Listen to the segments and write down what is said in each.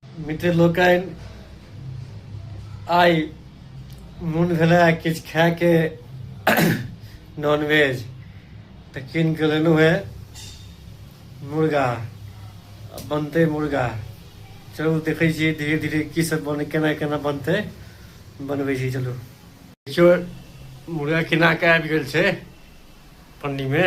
मित्र लोकनि आइ मोन भेला किछु खायके नॉनवेज तऽ कीन कऽ लेलहुँ हे मुर्गा बनतै मुर्गा चलू देखै छियै धीरे धीरे की सब बन केना केना बनतै बनबै छी चलू देखियौ मुर्गा केना के आबि गेल छै पन्नीमे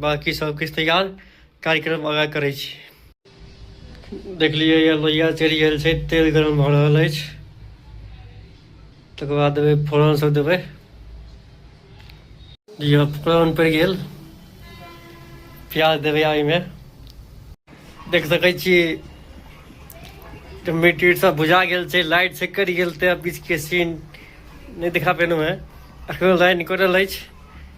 बाकी सब किछु तैयार कार्यक्रम आगा करै छी देखलियै यऽ लोहिया चलि गेल छै तेल गरम भऽ रहल अछि तकर बाद देबै फोरन सब देबै दियौ फोरन पड़ि गेल प्याज देबै ओहिमे देख सकै छी मीट उट सब बुझा गेल छै लाइट से कटि गेल तऽ बीचके सीन नहि देखा पेलहुँ हेँ एखनो लाइन कटल अछि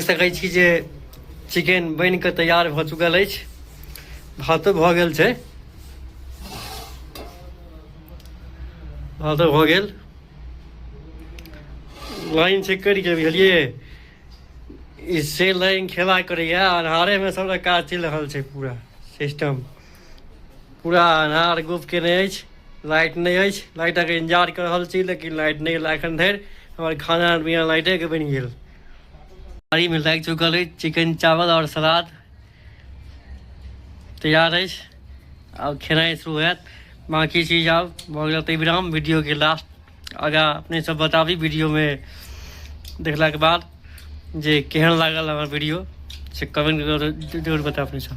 सकै छी जे चिकेन बनि कऽ तैयार भऽ चुकल अछि भातो भऽ गेल छै भातो भऽ गेल लाइन चेक करि कऽ बुझलियै ई से लाइन खेबा करैए अन्हारेमे सभटा काज चलि रहल छै पूरा सिस्टम पूरा अन्हार गुप केने अछि लाइट नहि अछि लाइटक इंतजार कर रहल छी लेकिन लाइट नहि एला एखन धरि हमर खाना बिना लाइटेके बनि गेल थारीमे लागि चुकल अछि चिकन चावल आओर सलाद तैयार अछि आब खेनाइ शुरू होयत बाँकी चीज आब भऽ गेल तऽ विराम वीडियोके लास्ट आगाँ अपने सब बताबी वीडियोमे देखलाके बाद जे केहन लागल हमर वीडियो से कमेंट जरूर बताबी सब